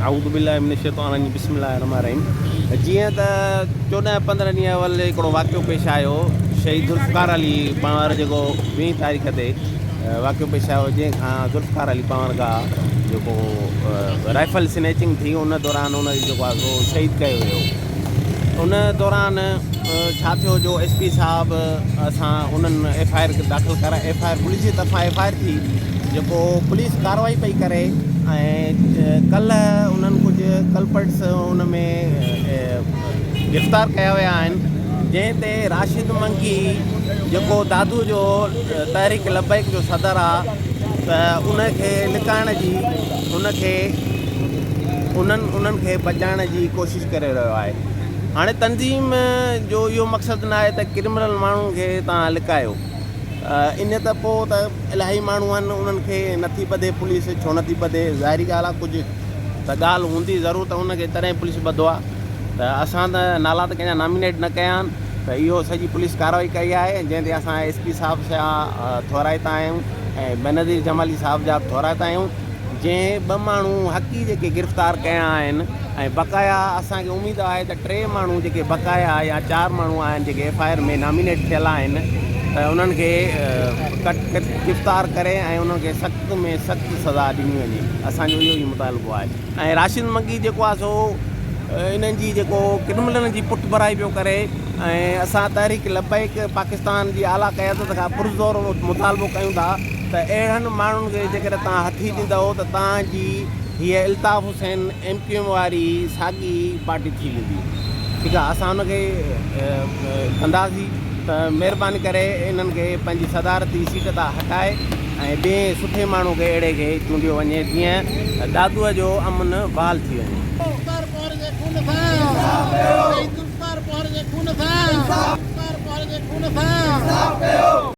اعوذباللّٰه من الشيطان الرّجيم بسم الله الرّحمٰن الرّحيم جيئن ته چوڏهن پندرهن ڏينهن اول هڪڙو واقعو پيش آيو شهيد ذوالفقار علي پنهور جيڪو ويهين تاريخ تي واقعو پيش آيو جنهن کان ذوالفقار علي پنهور کان جيڪو رائفل سنيچنگ ٿي ان دوران ان جيڪو آهي سو شهيد ڪيو ويو ان دوران ڇا ٿيو جو ايس پي صاحب سان انهن ايف آء آر داخل ڪرائي ايف آء آر پوليس جي طرفان ايف آء آر ٿي جيڪو پوليس ڪارروائي پئي ڪري ۽ ڪلهه انهن ڪجهه ڪلپرٽس ان ۾ گرفتار ڪيا ويا آهن جنهن تي راشد منڪي جيڪو دادو جو تحريڪ لبيڪ جو صدر آهي ته ان کي لڪائڻ جي ان کي انهن انهن کي بچائڻ جي ڪوشش ڪوشش ڪري رهيو آهي. هاڻي تنظيم جو اهو مقصد ناهي ته ڪرمنل ماڻهن کي توهان لڪايو. ائين ته پوء ته الاهي ماڻهو آهن انهن کي نه ٿي ٻڌي پوليس ڇو نه ٿي ٻڌي ظاهري ڳالهه آهي ڪجهه ته ڳالهه هوندي ضرور ته انهن کي تڏهن پوليس ٻڌو آهي ته اسان ته نالا ته ڪنهن جا نامينيٽ نه ڪيا آهن ته اهو سڄي پوليس ڪارروائي ڪئي آهي جنهن تي اسان ايس پي صاحب جا ٿورائتا آهيون ۽ بينظير جمالي صاحب جا به ٿورائتا آهيون. جنهن ٻه ماڻهو حقي جيڪي گرفتار ڪيا آهن ۽ بقايا اسان کي اميد آهي ته ٽي ماڻهو جيڪي بقايا يا چار ماڻهو آهن جيڪي ايف آء آر ۾ نامينيٽ ٿيل آهن ته انهن کي گرفتار ڪري ۽ انهن کي سخت ۾ سخت سزا ڏني وڃي اسان جو اهو ئي مطالبو آهي ۽ راشد مگي جيڪو آهي سو انهن جي جيڪو ڪرملن جي پٺڀرائي پيو ڪري ۽ اسان تحريڪ لبيڪ پاڪستان جي اعليٰ قيادت کان پرزور مطالبو ڪيون ٿا ته اهڙن ماڻهن کي جيڪڏهن توهان هٿي ڏيندؤ ته توهان جي هيء Altaf Hussain M Q M واري ساڳي پارٽي ٿي ويندي ٺيڪ آهي اسان ان کي ڪنداسين ته مهرباني ڪري انهن کي پنهنجي صدارتي سيٽ تان هٽائي ۽ ٻئي سٺي ماڻهو کي اهڙي کي چونڊيو وڃي جيئن دادوء جو امن بحال ٿي وڃي. ذوالفقار پوهر جي خون سان انصاف ڪيو شهيد ذوالفقار پوهر جي خون سان انصاف ڪيو.